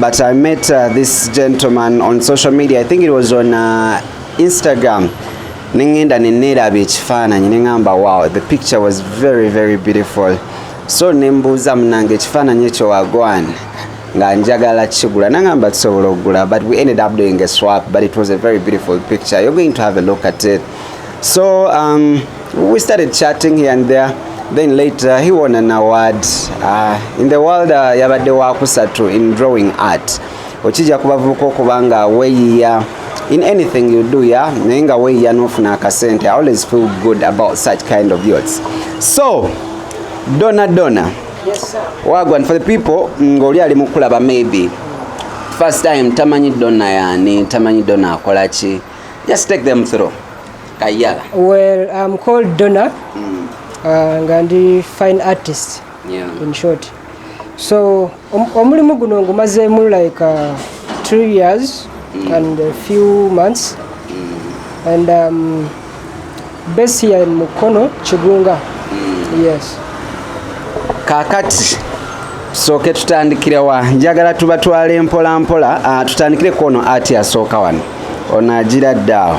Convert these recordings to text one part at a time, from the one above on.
But I met uh, this gentleman on social media. I think it was on uh, Instagram. Nengenda neneeraba ekifaananyi nengamba wow the picture was very very beautiful so nembuuza munange ekifaananyi ekyo wagwan nga njagala kigula nangamba tusobola okugula but we ended up doing a swap but it was a very beautiful picture you're going to have a look at it so um, We started chatting here and there then later he won an award uh, in the world uh, yabadde wakusatu in drawing art okijja ku bavubuka okuba nga weeyiya in anything you do ya naye nga weeyiya n'ofuna akasente i always feel good about such kind of youths so dona dona yes, wagwa and for the people ng'oli ali mukulaba maybe first time tamanyi dona yani tamanyi dona akola ki just take them through Kayala. Well, I'm called Donna. Mm. Uh, nga ndi fine artist. Yeah. In short. So, um, omulimu guno ngumazeemu like uh, two years mm. and a few months. Mm. And um, base here in Mukono, Chigunga. Mm. Yes. Kakati. sooke tutandikire wa njagala tubatwale mpola mpola ah, tutandikire kwono ati asooka wano ono agira ddaawo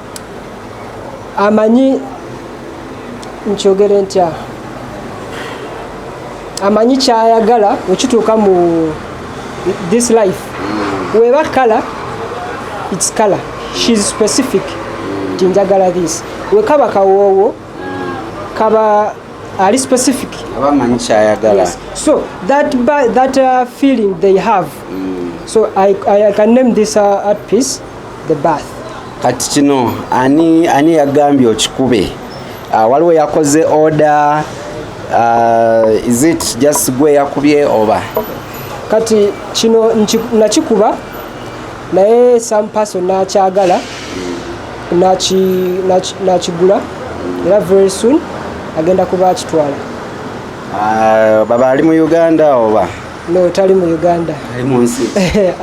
amanyi nkyogere ntya amanyi kyayagala okituuka mu this life weba kala its kala shes specific ti njagala this wekaba kawoowo kaba ali specific abamanyi kyayagala yes. so that, that uh, feeling they have mm. so I, I, I can name this uh, art piece the bath kati kino ani ani yagambye okikube ah, waliwo yakoze order uh, is it just gwe yakubye oba kati kino nakikuba naye some person nakyagala nakigula era very soon agenda kuba akitwala ah, baba ali mu uganda oba no tali mu uganda ali mu nsi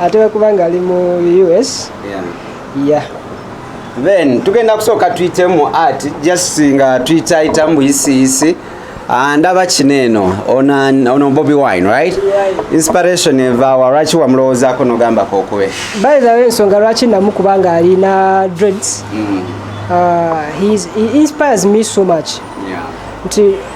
ate wekuba nga ali mu us yeah. Yeah. then tugenda kusooka tuyitemu art just nga tuyitayitamu buyisiyisi ah, ndaba kino eno ono bobi wine right inspiration evawa lwaki wamulowoozako nogambako okube by the way ensonga lwaki namu kubanga alina dreads mm. uh, he, is, he inspires me so much yeah. nti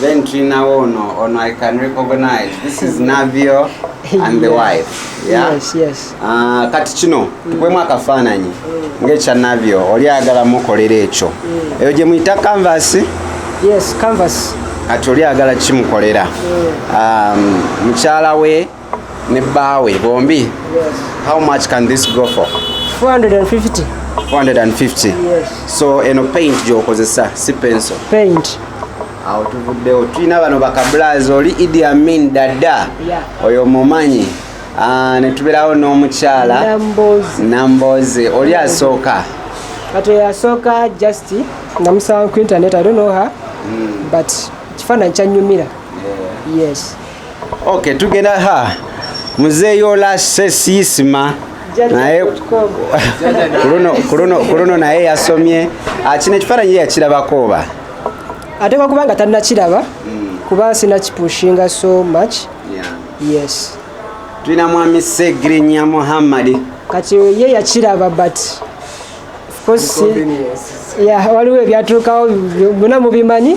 Then Trina Ono, Ono I can recognize. This is Navio and the wife. Yeah? Yes, yes. Uh, kati kino tukwemu akafaananyi ng'ekya Navio oli ayagala mukolera ekyo. Mm. Eyo gye muyita canvas? Yes, canvas. Kati oli ayagala kimukolera. Mm. Um, mukyala we ne bbaawe bombi how much can this go for 450 450 yes. so eno paint gyokozesa si penso paint awo tuvuddewo tulina bano bakablas oli idi amin dada yeah. oyo mumanyi ah, netubeerawo n'omukyala namboze oli asooka kati oyo asooka just namusaba ku internet i don't know her mm. but kifaananyi kyanyumira yeah. yes Okay, tugenda ha muzeeyo lase siisima naye kuluno naye yasomye ah, kino ekifaananyi yakirabako oba ateekwa kuba nga tannakiraba hmm. kuba sinakipushinga so much yes tulina mwami segrinya muhammadi kati ye yakiraba but waliwo ebyatuukawo byona mubimanyi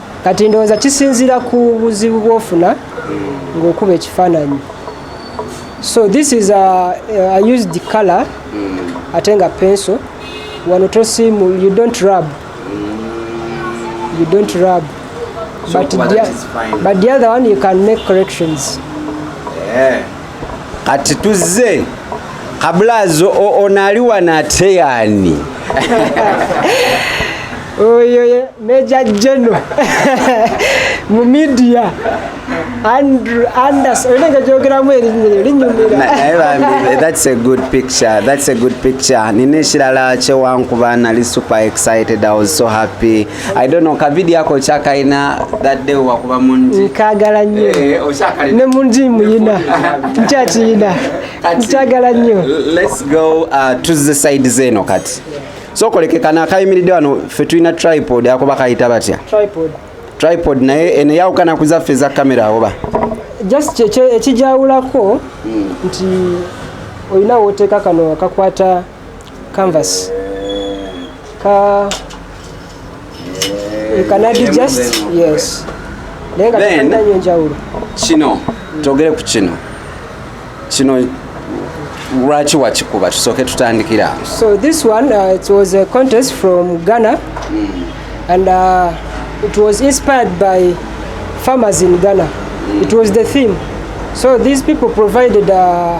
kati ndowooza kisinzira ku buzibu bwofuna ng'okuba ekifaananyi so this is a, a used color mm. ate nga penso wano tosimu you don't rub you don't rub so but, the, but the other one you can make corrections yeah. kati tuzze kabulazo onaali wano ate yaani oyo meja geno mu midia andrew anders olina nga gyogeramu erinnya lyo linyumirathats a good picture thats a good picture nina ekirala kyewankuba nali super excited i was so happy I don't know kavidi yako okyakaina that day wakuba munji nkagala nnyo eh, ne munji muyina nkyakiyina nkyagala nnyo let's go uh, to the side zeno kati so kolekekana akayimiridde wano fe tulina tripod ako bakayita batya tripod tripod naye eno yawukana ku zaffe eza kamera awoba just ekijawulako hmm. nti olina woteeka kano akakwata canvas ka you can add just yes naye nga tolina nyo njawulo kino togere ku kino kino lwaki wakikuba tusooke tutandikira so this one uh, it was a contest from ghana mm. and uh, it was inspired by farmers in ghana mm. it was the theme so these people provided uh,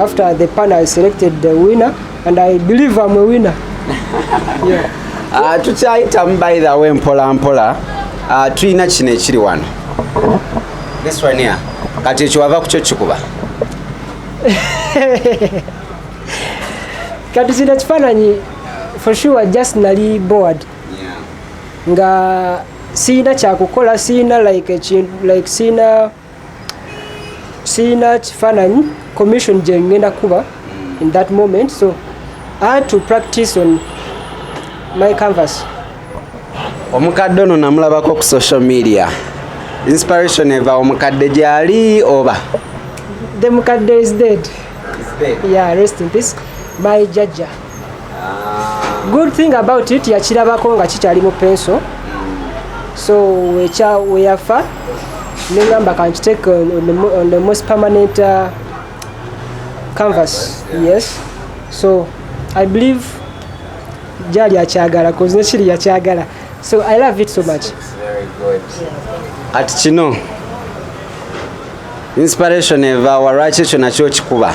After the panel I selected the winner and I believe I'm a winner. yeah. Uh, tukyayitamu by the way mpola mpola uh, tulina kino ekiri wano this one here kati ekyo wava kukyo kikuba kati kino kifaananyi for sure just nali board yeah. nga siyina kyakukola siyina like ekintu like siyina sirina kifaananyi commission gye ngenda kuba in that moment so i had to practice on my canvas omukadde ono namulabako ku social media inspiration eva omukadde gyali oba the mukadde is dead, is dead. yeah rest in peace my jajja good thing about it yakirabako nga kikyali mu penso so weyafa nengamba kankiteke on the most permanent uh, canvas yes so i believe gyali akyagala bcause nekiri yakyagala so i love it so much kati kino inspiration evawa lwaki ekyo nakyo kikuba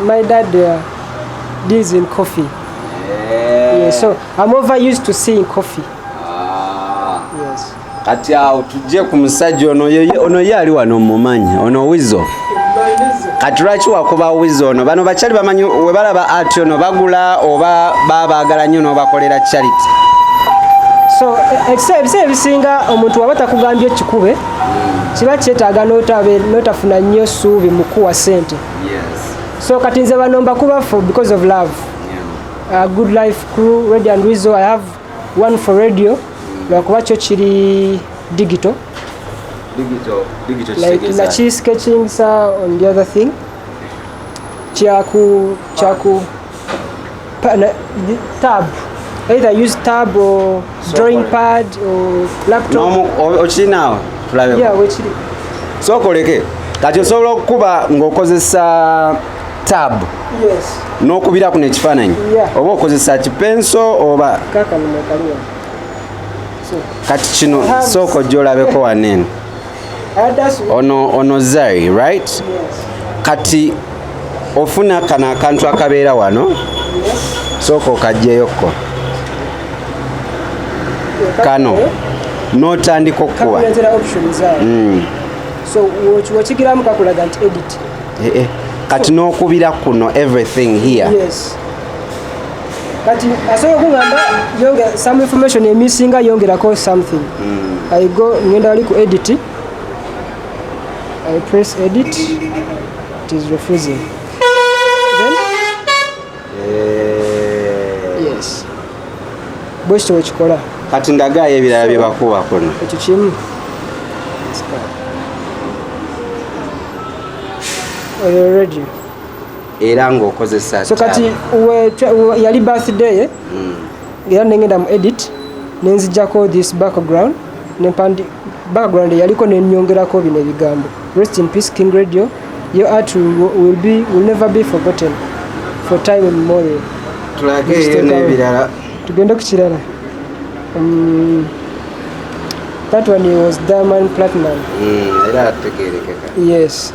My dad uh, deals in coffee. Yeah. Yeah, so I'm over used to seeing coffee. Ah. Yes. Kati awo tujje ku musajja ono ono ye ali wano mumanyi ono wizo kati lwaki wakuba wizo ono bano bakyali bamanyi webalaba ati ono bagula oba babaagala nnyo n'obakolera charity so e, e, ebisa ebisinga omuntu waba takugambye kikube kiba kyetaaga notafuna nnyo ssuubi mukuwa sente so kati nze bano mbakubafu because of love uh, good life crew radio and wizo i have one for radio lwakuba kyo kiri digital like na ki sketching sa on the other thing kyaku kyaku tab either use tab or drawing pad or laptop okirinaawo tulabe yeah wekiri sokoleke kati osobola okukuba ng'okozesa tab n'okubira kuno ekifaananyi oba okozesa kipenso oba kati kino sooka ojja olabeko waneeno ono ono zari right kati ofuna kano akantu akabeera wano sooka okagyeyokko kano notandika okukuba mm. eh, eh. kati nokubira kuno everything here yes. kati asobola okungamba yongera some information emisinga yongerako something mm. i go ngenda wali ku edit i press edit it is refusing then eh. yes bwekityo wekikola kati ndagaayo ebirala byebakuwa kuno ekyo kimu Are you ready? era ng'okozesa so kati yali birthday ye hmm. era nengenda mu edit nenzijjako this background nempandi background yaliko nenyongerako bino ebigambo rest in peace king radio your art will, be, will never be forgotten for time immemorial tulageeyo n'ebirala tugende ku kirala um, that one was diamond platinum mm, era ategerekeka yes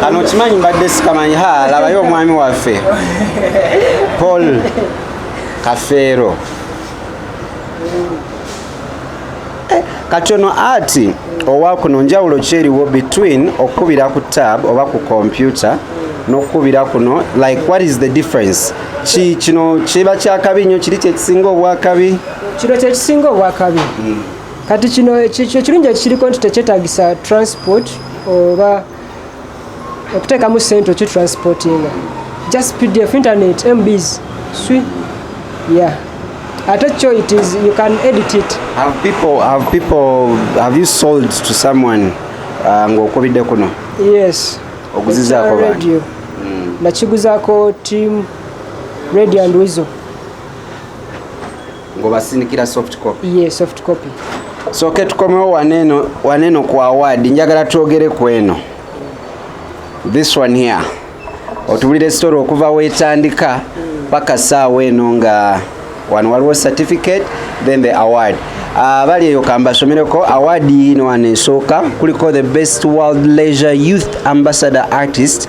kano kimanyi mbadde sikamanyi ha labayo omwami waffe paul kafeero eh, kati ono ati owa kuno njawulo kyeriwo between okukubira ku tab oba ku kompyuta n'okukubira kuno like what is the difference ki kino kiba kyakabi nnyo kiri kyekisinga obwakabi kino kyekisinga obwakabi hmm. kati kino ekirungi ekiriko nti tekyetagisa transport oba okuteekamu sente oki transportinga just pdf internet mbs swi yeah ate kyo it is you can edit it have people have people have you sold to someone uh, ng'okubidde kuno yes oguzizaako radio mm. nakiguzaako team radio and wizo ngobasinikira soft copy ye yeah, soft copy so ke tukomewo waneno waneno ku award njagala twogere ku eno this one here otubulire story okuva wetandika paka saawa eno nga wano waliwo certificate then the award abali ah, eyo kambasomereko award yino wano esooka kuliko the best world leisure youth ambassador artist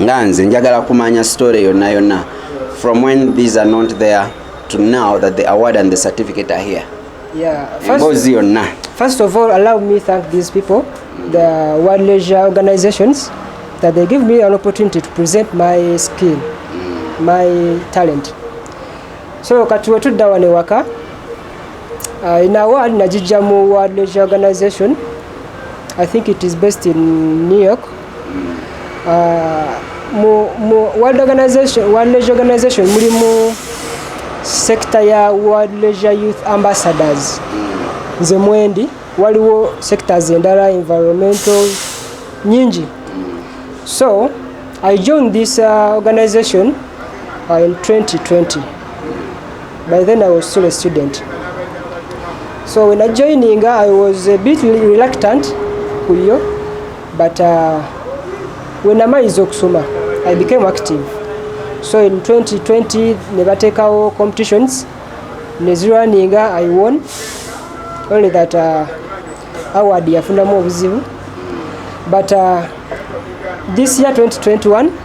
nga nze njagala kumanya story yonna yonna from when these are not there to now that the award and the certificate are here yeah, emboozi yonna first of all allow me thank these people the world leisure organizations that they give me an opportunity to present my skill mm. my talent so kati wetudda wano ewaka uh, in award najijja mu world leisure organization i think it is based in new york uh, mu, mu world organization, world leisure organization mulimu sekita ya world leisure youth ambassadors nze mwendi waliwo sectors endala environmental nyingi so i joined this uh, organization uh, in 2020 by then i was still a student so when i joining i was a bit reluctant kuyo But uh, when amaize okusoma I became active so in 2020 ne batekawo competitions nezirwaninga I won only that uh, award yafunamu obuzibu but uh, this year 2021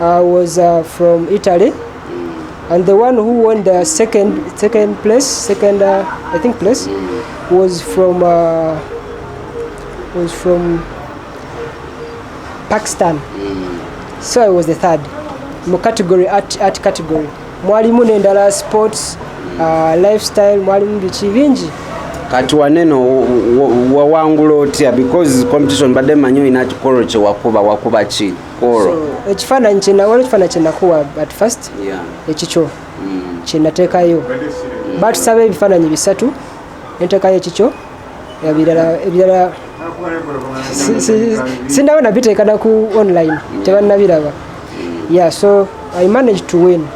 I was uh, from Italy and the one who won the second second place second uh, I think place was from uh, was from Pakistan so I was the third mu category art, art category mwalimu nendala sports uh, lifestyle mwalimu biki bingi kati waneno wawangula otya because competition badde manyi olina kikolo kyewakuba wakuba ki ekifaananyi kyenawala ekifaananyi kyenakuwa at first ekikyo mm. kyenateekayo mm. batusaba ebifaananyi bisatu enteekayo ekikyo ebirala ebirala sinawo nabiteeka naku online mm. tebannabiraba yeah so i manage to win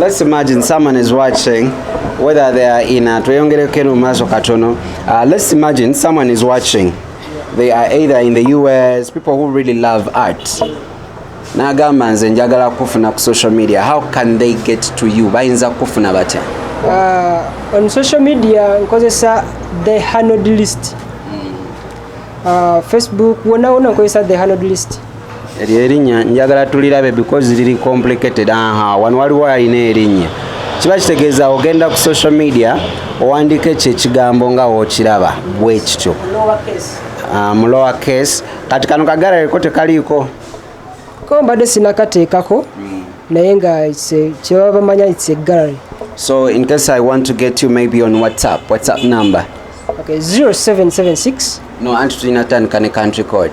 let's imagine someone is watching whether they are in a tweyongereko eno mu maaso katono uh, let's imagine someone is watching they are either in the us people who really love art nagamba nze njagala kufuna ku social media how can they get to you bayinza kufuna batya uh, on social media nkozesa the hanod list uh, facebook wonawona nkozesa the hanod list eryo erinnya njagala tulirabe because liri complicated aha wano waliwo alina erinnya kiba kitegeeza ogenda ku social media owandiika ekyo ekigambo nga wokiraba bwekityo ah, mu lower case kati kano kagalareko tekaliiko ko mbadde sinakateekako hmm. naye nga kyebaba bamanya its a gallery so in case i want to get you maybe on whatsapp whatsapp number okay 0776 no anti tulina tandika ne country code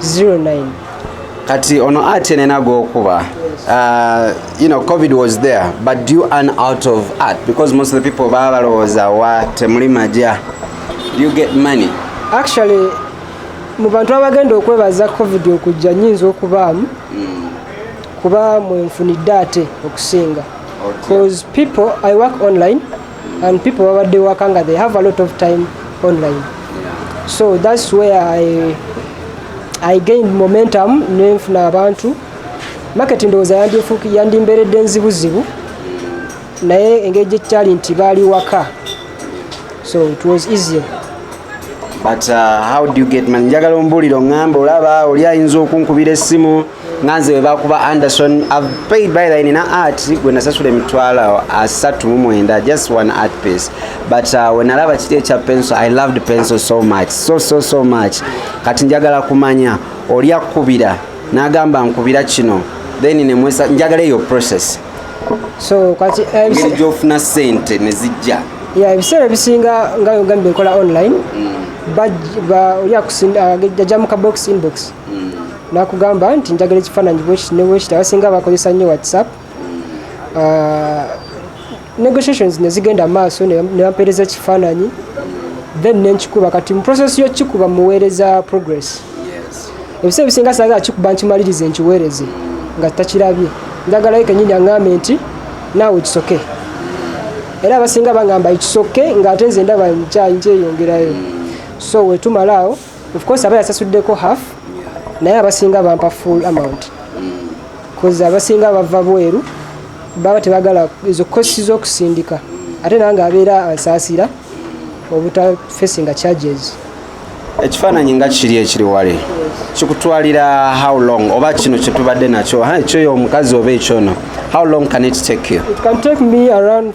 09 kati ono art enena gokuba Uh, you know, COVID was there, but do you earn out of art? Because most of the people baba lowoza wa temuli maja. Do you get money? Actually, mu bantu abagenda okwebaza covid okujja nyinza okubaamu hmm. kuba mwenfunidde ate okusinga because people i work online and people babadde waka nga they have a lot of time online so that's where i, I gained momentum nenfuna abantu market ndowooza yandimberedde nzibuzibu naye engeri gyekyali nti baali waka so it was easier but uh, how do you get man njagala ombuulire oŋŋamba olaba oli ayinza okunkubira essimu nga nze webakuba anderson i've paid by the nina art gwe nasasula emitwalo asatu mu mwenda just one art piece but uh, wenalaba kiri ekya penso i loved penso so much so so so much kati njagala kumanya oli akubira nagamba nkubira kino then nemwesa njagala eyo process so kati eh, ngeri gyofuna sente nezijja ya ebiseera ebisinga nga yogambye nkola online mm. bajja mu kabox inbox mm. nakugamba nti njagala ekifaananyi bwekiti ne bwekiti abasinga bakozesa nnyo whatsapp ah, negotiations ne zigenda maaso ne bampeereza ekifaananyi then nenkikuba kati mu process y'okukikuba muweereza progress ebiseera ebisinga saagala kikuba nkimalirize nkiweereze nga takirabye njagalayo kenyini aŋambe nti naawe kisoke era abasinga bangamba ekisoke ng'ate nze ndaba nkyayinkyeyongerayo so wetumalaawo of course aba yasasuddeko half naye abasinga bampa full amount kozi abasinga bava bweru baba tebagala ezo kosi z'okusindika ate nange abeera ansaasira obutafesinga charges ekifaananyi nga kiri ekiri wale kikutwalira how long oba kino kyetubadde nakyo ekyoyo omukazi oba ekyono how long can it take you it can take me around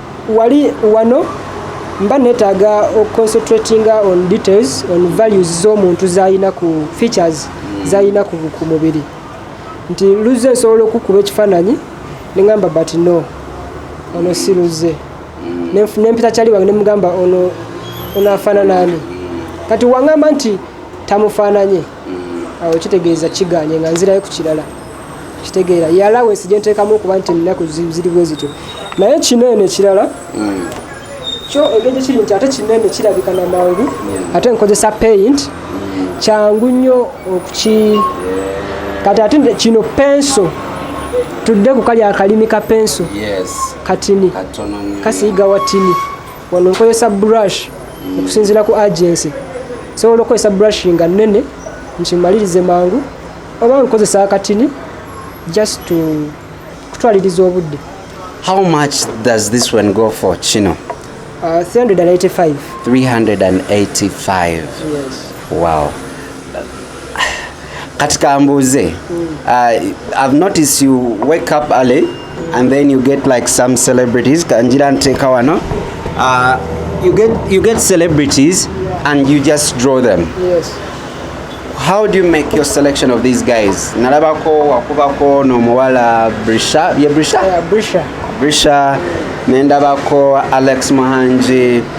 wali wano mba netaaga oconcentratinga on details on values z'omuntu zalina ku features zalina ku mubiri nti luzze nsobola okukuba ekifaananyi nengamba but no ono si luzze nempita kyali wange nemugamba ono ono afaananani kati wangamba nti tamufaananye awo kitegeeza kiganye nga nzirayo ku kirala kitegeera yalawe sije nteekamu okuba nti ennaku ziri bwe zityo naye kino eno ekirala mm. kyo engeri kiri nti ate kino eno kirabika na mangu mm. ate nkozesa paint mm. kyangu nnyo okuki kati ate kino penso tudde ku kali akalimi ka penso katini kasiyiga watini wano nkozesa brush okusinzira ku agency sobola okukozesa brush nga nene nkimalirize mangu oba nkozesa akatini just to kutwaliriza obudde how much does this one go for kino uh, 385 385 yes. wow kati kambuuze uh, i've noticed you wake up early and then you get like some celebrities kanjira nteeka wano uh, you get, you get celebrities and you just draw them yes. how do you make your selection of these guys nalabako wakubako nomuwala brisha ye brisha yeah, brisha brisha nendabako alex muhangi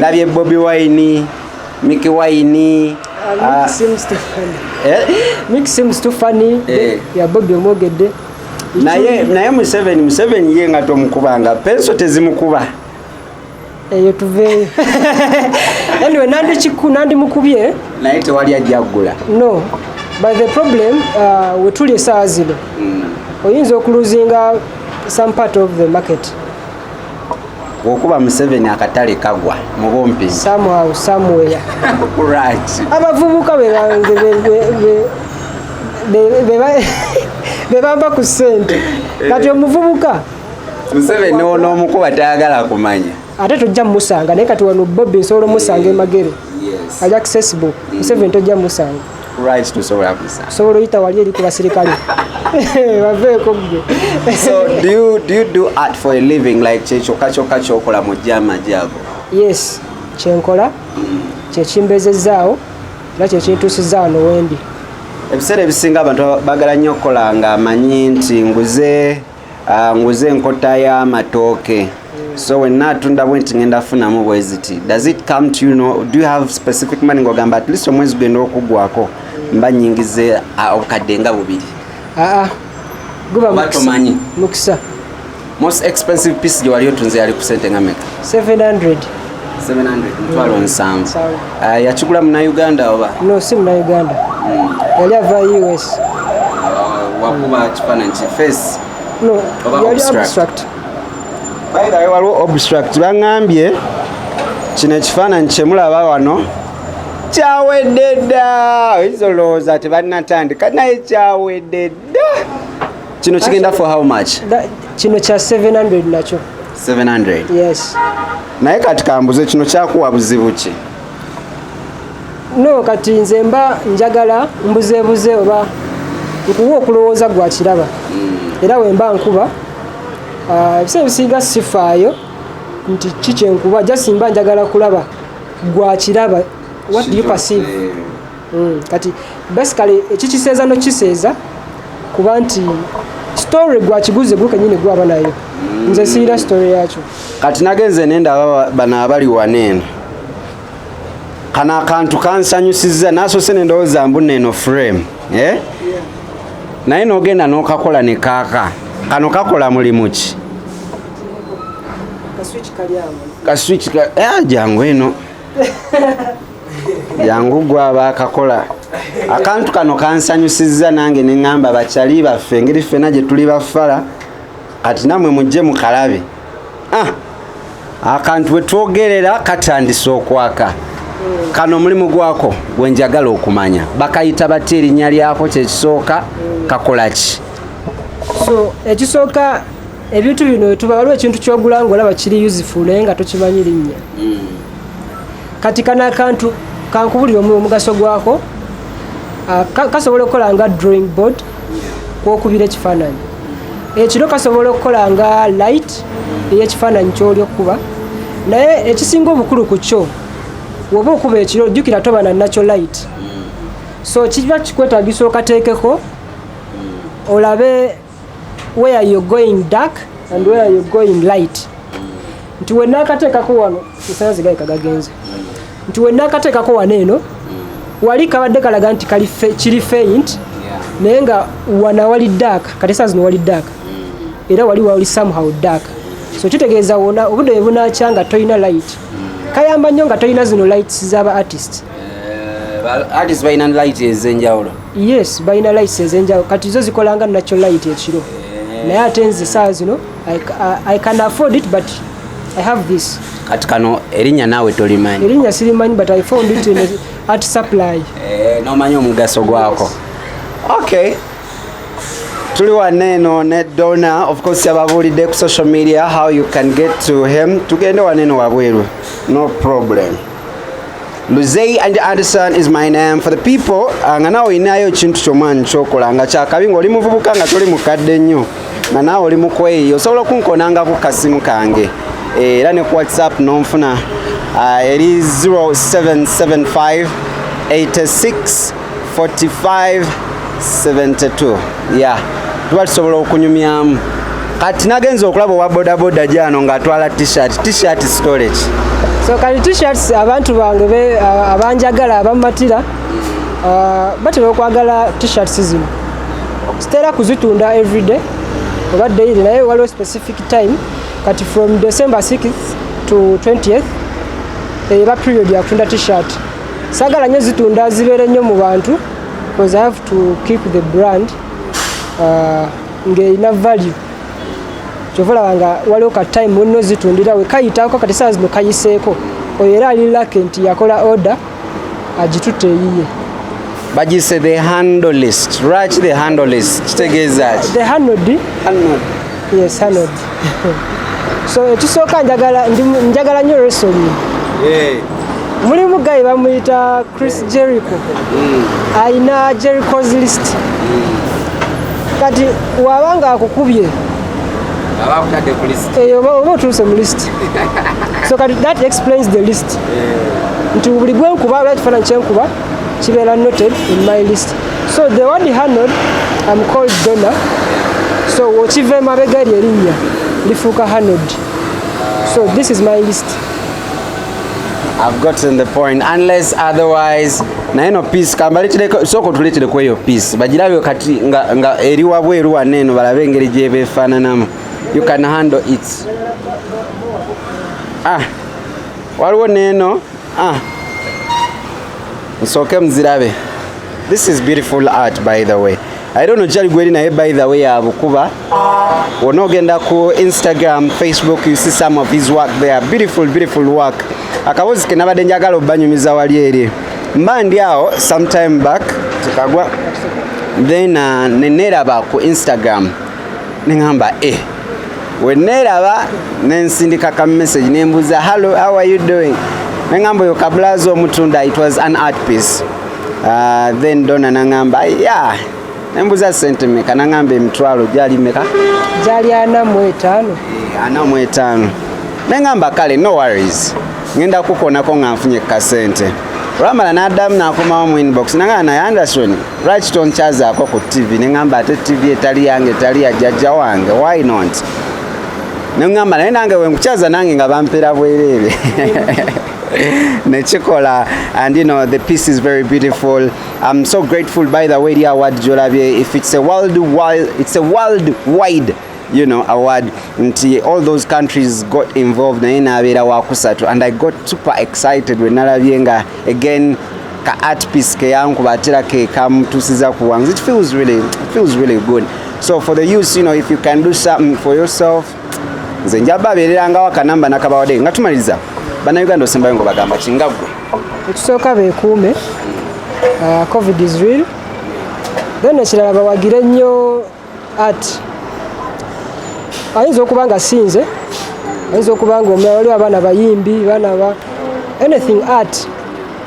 labye bobi wine miki wine ah, omwogedde naye naye museveni museveni ye nga tomukubanga penso tezimukuba eyo tuveeyo anyway nandikiku nandimukubye naye tewali ajjaggula no but the problem uh, wetuli esaawa zino mm. oyinza okuluzinga some part of the market okuba museveni akatale kagwa mubumpi abavubuka bebamba ku sente eh. kati omuvubuka museveni onoomukuba tayagala kumanya ate tojja mumusanga naye kati wano bobi nsobola omusanga emagere aja kusesibu museveni tojja mumusanga Right to sobola kusa. Sobola oyita wali eri ku basirikale. Baveeko ggwe. So do you, do you do art for a living like kyekyokka kyokka kyokola mu gyamagi ago? Yes, kyenkola mm. kyekimbezezzaawo era kyekintuusizza wano wendi. Ebiseera ebisinga abantu bagala nnyo okukola nga amanyi nti nguze Ah, nguze enkota y'amatooke so wenna atunda bwe nti ngenda funamu bwe ziti does it come to you know, do you have specific money ng'ogamba at least omwezi genda okuggwako mba nyingize ah, obukadde nga bubiri aa ah, guba tomanyi mukisa most expensive piece gye wali otunze yali ku sente nga meka 700 mutwalo nsanvu ah, yakigula munauganda oba no si munauganda hmm. yali ava us ah, wakuba kifaananyi kifesi no yali abstract bayirayo waliwo obstruct baŋambye kino ekifaananyi kyemulaba wano kyawedde dda oyinza olowooza tebanatandika naye kyawedde dda kino kigenda for how much kino kya 700 nakyo 700 yes naye kati kambuze kino kyakuwa buzibu ki no kati nze mba njagala mbuzebuze oba nkuwa okulowooza gwa kiraba hmm. era wemba nkuba ah, ebisa ebisinga sifaayo nti kikyenkuba jasimba njagala kulaba gwa kiraba what do you perceive mm, kati basically ekikiseeza nokiseeza kuba nti story gwakiguze gwo kenyini gwaba nayo mm. nze siira story yakyo kati nagenze nenda aba bano abali waneeno kano akantu kansanyusiza nasose nendowooza mbu neeno frame eh? naye nogenda nokakola ne kaaka kano kakola mulimu ki kaswiki eh, jangu eno yangu gwe abaakakola akantu kano kansanyusizza nange ne ŋŋamba bakyali baffe engeri ffena gye tuli bafala kati namwe mujje mukalabe ah, akantu bwe twogerera katandise okwaka kano omulimu gwako gwe njagala okumanya bakayita batya erinnya lyako kyekisooka kakola ki so ekisooka ebintu bino wetuba waliwo ekintu kyogula nga olaba kiri useful naye nga tokimanyi linnya hmm. kati kana akantu kankubulira omugaso gwako ah, kasobola okukola nga drawing board kwokubira ekifaananyi ekiro kasobola okukola nga light eyekifaananyi kyoli okukuba naye ekisinga obukulu ku kyo woba okuba ekiro jjukira toba na nakyo light hmm. so kiba kikwetagisa okateekeko hmm. olabe where you're going dark and where you're going light nti wenakateekako wano esanzi gaika gagenze nti wenakateekako wano eno wali kabadde kalaga nti kiri faint naye nga wana wali dark kati esanzi no wali dark era wali wali somehow dark so kitegeeza wona obudde bwebunakya nga tolina light kayamba nnyo nga tolina zino lights zaba artist eh, artist balina light ezenjawulo yes balina lights ezenjawo kati zo zikolanga nacho light ekiro eh. naye ate nze saa zino i can afford it but i have this kati kano erinnya naawe tolimanyi erinnya sirimanyi but i found it in at supply eh, nomanyi omugaso gwako okay tuli wanne eno ne dona of course yababuulidde ku social media how you can get to him tugende wanne eno wabweru no problem Luzei and Anderson is my name for the people ah, nga nawe olinayo ekintu kyomwani kyokola nga kyakabi nga oli muvubuka nga toli mukadde nnyo nga nawe oli mukweyi osobola okunkonanga ku kasimu kange eh, era ne ku whatsapp nonfuna ah, eri 0775 86 4572 ya tuba tusobola okunyumyamu kati nagenza okulaba owa bodaboda gyano ng'atwala tshirt tshirt storage so kati tshirts abantu bange abanjagala abamatira uh, batera okwagala tshirts zino sitera kuzitunda everyday oba daily naye waliwo specific time kati from december 6 to 20th eba eh, period yakutunda tshirt sagala nyo zitunda zibeere nnyo mu bantu because i have to keep the brand uh, ng'erina value kyova olaba nga waliwo ka time munno zitundira we kayitako kati saa zino kayiseeko oyo era ali lake nti yakola order agitutte eyiye bagise the handle list lwaki the handle list kitegeeza ki the handle di handle yes handle so ekisooka njagala njagala nnyo resoli mulimu gayi bamuyita chris jericho mm. alina jerichos list mm. kati waba nga akukubye eyo eh, oba otuuse mu list so kati that explains the list nti buli gwenkuba oba ekifaananyi kyenkuba kibeera noted in my list so the word hanod am called dona so wokiva emabega eryo erinnya lifuuka hanod so this is my list I've gotten the point unless otherwise naye no peace kambalitireko sooka otuleetereko eyo peace bagirabyo kati nga, nga eri wabweru wanne eno balabe engeri gyebeefaananamu you can handle it ah waliwo neeno Ah. Nsooke muzirabe. This is beautiful art by the way. I don't know jali gweri naye by the way abukuba. Wona ogenda ku Instagram, Facebook you see some of his work there. Beautiful beautiful work. Akabozi ke nabadde njagala obanyumiza wali eri. Mba ndi awo sometime back tukagwa then uh, neneraba ku Instagram nengamba eh weneeraba nensindika ka message nembuuza hallo how are you doing nengamba oyo kabulazi omutunda it was an art piece uh, then dona nangamba yeah nembuza sente meka nangamba emitwalo gyali meka gyali ana mu etaano eh, ana mu etaano nengamba kale no worries ngenda kukonako nga nfunye kasente olwamala n'addamu n'akomawo mu inbox nanga naye anderson lwaki tonkyazaako ku tv ne ŋamba ate tv etali yange etali ya jjajja wange why not ne ŋamba naye nange wenkukyaza nange nga bampera bwereere nekikola and you know the piece is very beautiful i'm so grateful by the way eri award gyolabye if it's a world wide it's a world wide you know award nti all those countries got involved naye nabeera wakusatu and i got super excited when nalabye nga again ka art piece keyankuba atera kekamutusiza ku wangs it feels really, it feels really good so for the youth you know if you can do something for yourself nze njaba abeererangawo akanamba nakabawadde nga tumaliriza bannayuganda osembayo ngo bagamba kingagwe ekisooka beekuume uh, covid is real then ekirala bawagire nnyo at ayinza okuba nga sinze ayinza okuba nga omulala waliwo abaana bayimbi baana ba anything art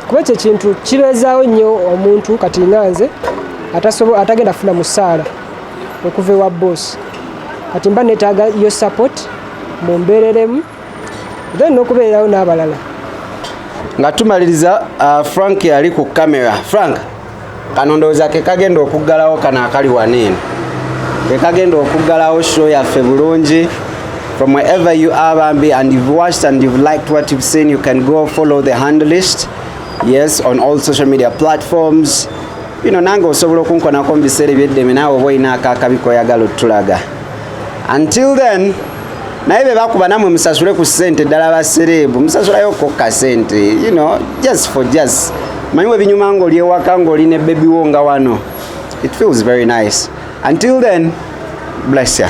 kuba ekyo ekintu kibeezaawo nnyo omuntu kati nga nze atagenda funa musaala okuva ewa boss kati mba netaaga yo support mumbeereremu then n'okubeererawo n'abalala nga tumaliriza uh, frank yali ku kamera frank kano ndowooza ke kagenda okuggalawo kano akali waneeno ke kagenda okuggalawo show yaffe bulungi from wherever you are bambi and you've watched and you've liked what you've seen you can go follow the hand list yes on all social media platforms you know nange osobola okunkonako mu biseera ebyeddeme naawe oba olina akaakabi koyagala otulaga until then naye bebakuba namwe musasule ku sente ddala basereebu musasulayo kokka sente you know just for just manyi webinyuma ngaoli ewaka ngaoli ne bebi wo nga wano it feels very nice until then bless ya